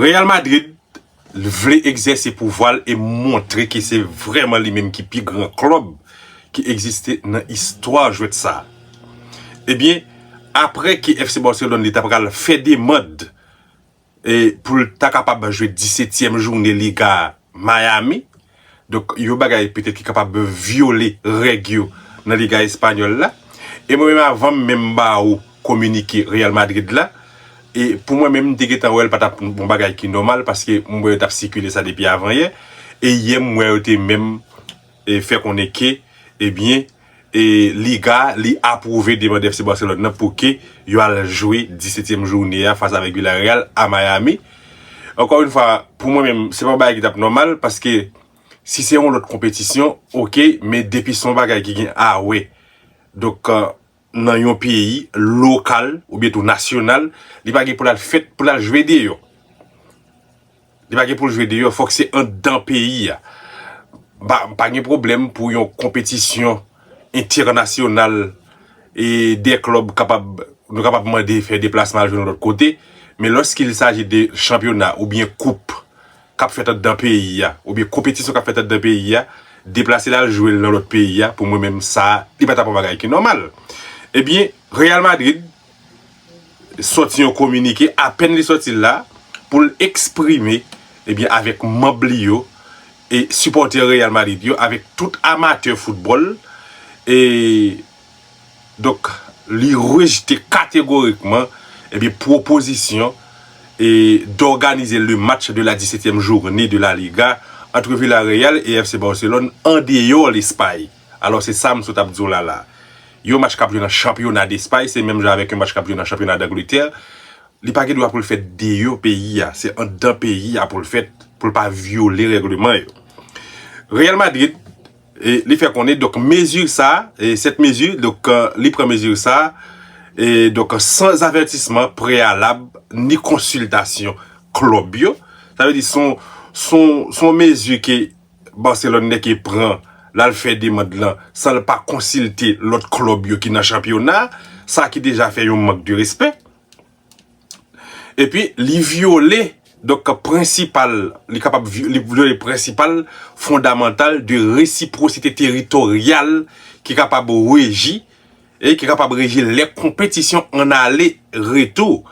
Real Madrid vle egzèse pouvwa l e montre ke se vrèman li menm ki pi gran klub ki egziste nan istwa jwèt sa. Ebyen, apre ke FC Barcelone li ta pral fè demand pou l ta kapab jwe disetyèm joune Liga Miami, Donk, yon bagay petèt ki kapab vyole règ yo nan Liga espanyòl la. E mwen menm avan m menm ba ou kominike Real Madrid la, e pou mwen menm m te gentan wè l pa t ap yon bagay ki nòmal paske m wè yo t ap sikile sa depi avan yè. E yè m wè yo te menm fè konnen ke, ebyen. Liga li apwouve demand FC Barcelone nan pou ke yo al jwe 17 tièm joune a fas avèk Villarreal a Miami. Ankò yn fwa pou mwen menm se pa yon bagay ki tap nòmal paske si se yon lòt konpetisyon ok men depi se yon bagay ki gen a wè donk nan yon peyi lokal oubyen tou nasyonal li pa gen pou lal fèt pou lal jwe deyò. Li pa gen pou l jwe deyò, fòk se anndan peyi a. M pa gen pwoblèm pou yon konpetisyon entènasyonal e de klub kapab, nou kapab mande fè deplasman al jwe yon lòt kote. Men lòskil saji de chanpyona oubyen koup k ap fèt anndan peyi a, oubyen konpetisyon k ap fèt anndan peyi a, deplase l al jwe l nan lòt peyi a, pou mwen menm sa, li pa ta pou yon bagay ki nòmal. Ebyen, Real Madrid. sòti yon kominike, apèn li sòti la, pou l eksprime, ebyen avèk manb li yo, e sipòtè Real Madrid yo, avèk tout amatè foutbòl, e donk li rejte kategorikman, ebyen pwopozisyon, e dòganize le match de la disetyèm journe de la Liga antre Villarreal e FC Barcelone andeyò Lespay. Alò se sa m sot ap di w la la. Yon match k ap jwe nan chanpyona Despay se menm jan avèk yon match k ap jwe nan chanpyona Dangletè. Li pa gen dwa pou l fèt deyò peyi a. Se anndan peyi a pou l fèt pou l pa vyole règleman yo. Real Madrid li fè konnen donk mezi sa, sèt mezi donk li pran mezi sa donk san avètisman preyalab ni konsiltasyon klub yo. Sa vle di son mezi ke Barcelone nèke pran lal fè demand lan sanl pa konsilte lòt klub yo ki nan chanpyona sa ki deja fè yon mank de respè epi li vyole donk prensipal li kapab li vyole prensipal fondamantal de resiprosite teritoryal ki kapab reji e ki kapab reji l lè konpetisyon an ale retou,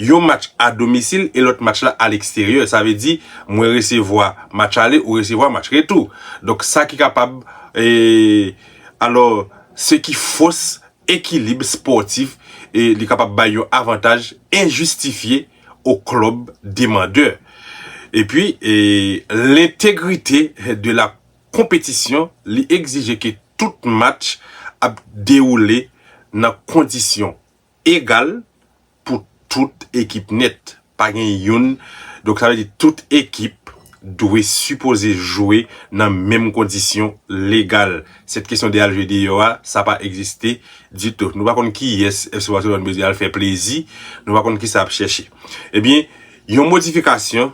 yon match a domisil e lòt match la a leksteryè. Sa vle di, mwen resevwa match ale, ou resevwa match retou. Donk sa ki kapab e alò se ki fos ekilib spòtif e li kapab bay yon avantaj enjistifye o klub demandeur. Epi e lentegrite de la. konpetisyon, li egzije ke tout match ap dewoule nan kondisyon egal pou tout ekip nèt. Pa gen youn, donk sa vle di tout ekip dwe sipoze jwe nan menm kondisyon legal. Sèt kesyon de al jwe deyò a, sa pa egziste ditou. Nou pa konn kiyès FC Barcelone bezwen al fè plezi, nou pa konn kisa ap chèche. Ebyen, yon modifikasyon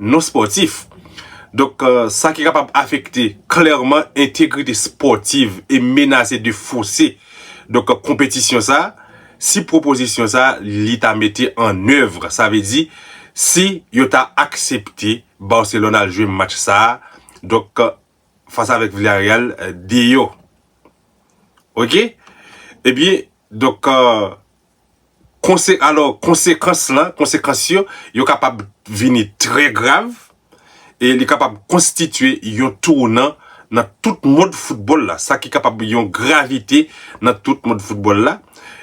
non spòtif. Donk sa ki kapab afekte klèman entegrite spòtiv e menase de fose donk konpetisyon sa a si pwopozisyon sa a li ta mete an evre sa vle di si yo ta aksepte Barcelone al jwe match sa a donk fas avèk Villarreal deyò ok ebyen donk. Konse, alò, konsekans lan, konsekans yo, yo kapab vini trè grav e li kapab konstitye yon tounan nan tout mond foutbòl la, sa ki kapab yon gravite nan tout mond foutbòl la.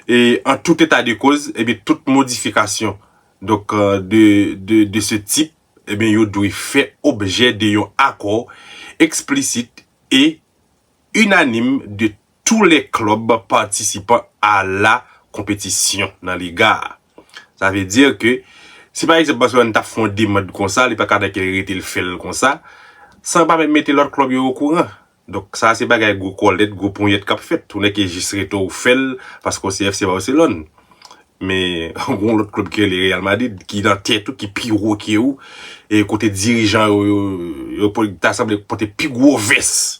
E an tout eta de koz, ebyen tout modifikasyon, donk, de, de, de se tip, ebyen yo dwe fè objè de yon akò eksplisit e inanim de Tou lè klub patisipan a la konpetisyon nan liga a. Sa vle di ke si pa egzanp Barcelone ta fè yon demand konsa, li pa ka nan kè li rete li fè l konsa, san l pa menm mete lòt klub yo okouran. Donk sa se bagay gwo kòlèt, gwo ponyèt k ap fèt. Tou lè ke jis rete w fè l paske w se FC Barcelone. Men gon lòt klub ki rele Real Madrid ki nan tèt ou, ki pi wo ke ou e kote dirijan yo ta sanble pote pi gwo vès.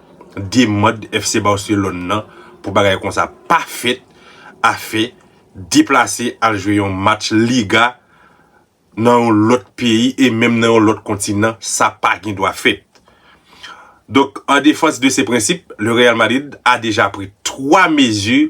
demand FC Barcelone nan pou bagay konsa pa fèt a fè deplase al jwe yon match Liga nan yon lòt peyi e menm nan yon lòt kontinan sa pa gen dwa fèt. Donk an defans de se prensip, le Real Madrid a deja pri 3 mezi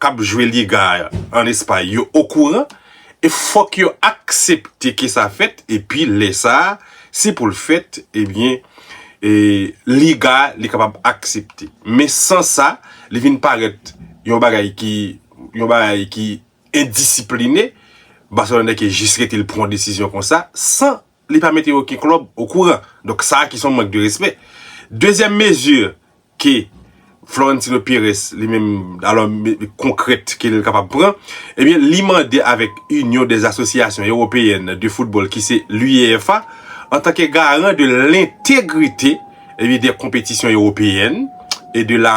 kap jwe liga an espay yo okouran e fòk yo aksepte ke sa fèt epi lè sa se poul fèt ebyen liga li kapab aksepte men san sa li vin parèt yon bagay ki yon bagay ki endisipline Barcelone ke jis rete li pran desizyon konsa san Li pa mete oken klub o kouran. Donk sa ki son mank de respè. Dezyèm mezi ke Florentino Perez li menm alò konkrèt ke li kapab pran, ebyen li mande avèk Inyon dè Asosyasyon Ewopeyèn de Foutbòl ki se l'UEFA antanke garan de lentegrite ebyen dè konpetisyon ewopeyèn e de la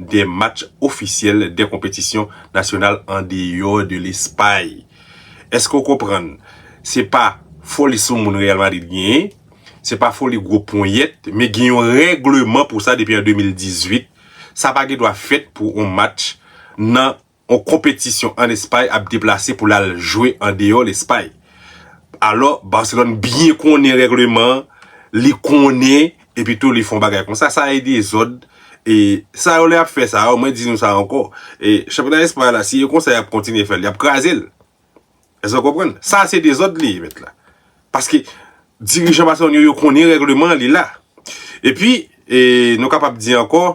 2 match ofisyèl 2 konpetisyon nasyonal andeyò de Lespay. Èske w konprann? Se pa foli sou moun Real Madrid genyen, se pa foli gwo ponyèt, men gen yon règleman pou sa depi an 2018. Sa pa gen dwa fèt pou yon match nan. On konpetisyon an Espay ap deplase pou l al jwe andeyò Lespay. Alò, Barcelone byen konnen règleman an, li konnen epi tou li fè yon bagay konsa. Sa e dezòd. E sa yo lè y ap fè sa yo, mwen di nou sa ankò, e chanpyona Espay la si e konsa y ap kontinye fè l, y ap kraze l. Èske nou konprann? Sa se dezòd li ye mèt la. Paske dirijan Barcelone yo, yo konnen règleman an, li la. Epi, e nou kapab di ankò.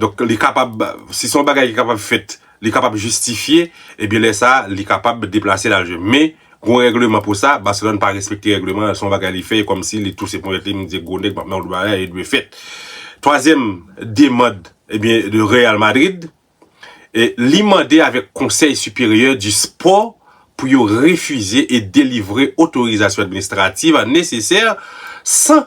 Donk li kapab, si se yon bagay ki kapab fèt, li kapab jistifye, ebyen lè sa a, li kapab deplase l al jwe. Men, gen yon règleman pou sa, Barcelone pa respekte règleman an, se yon bagay li fè, e kòmsi li touse ponyèt li, li di gwo nèg pap nan wout bagay, li dwe fèt. Twazyèm demand, ebyen, de Real Madrid, li mande avèk Conseil Supérieur du Sport pou yo refize e delivre otorizasyon administrative nesesè san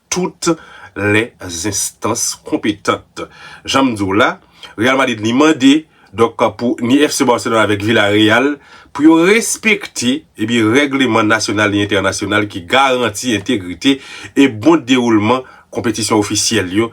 tout lè zenstans konpetant. Jan m di w la, Real Madrid li mande donk pou ni FC Barcelone avèk Villarreal pou yo respekte ebyen règleman nasyonal e entènasyonal ki garanti entegrite e bon dewoulman konpetisyon ofisyèl yo,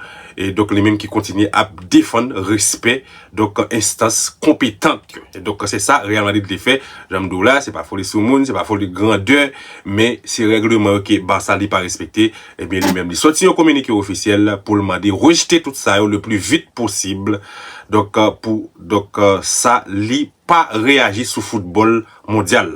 donk li menm ki kontinye ap defann respè Donk enstans konpetant yo. Donk se sa Real Madrid vle fè. Jan m di w la, se pa foli sou moun, se pa foli grandè, men se règleman yo ke Barça li pa respekte, ebyen li menm li soti yon kominike ofisyèl pou l mande rejte tout sa yo le pli vit posib. Donk pou donk sa li pa reyaji sou foutbòl mondyal.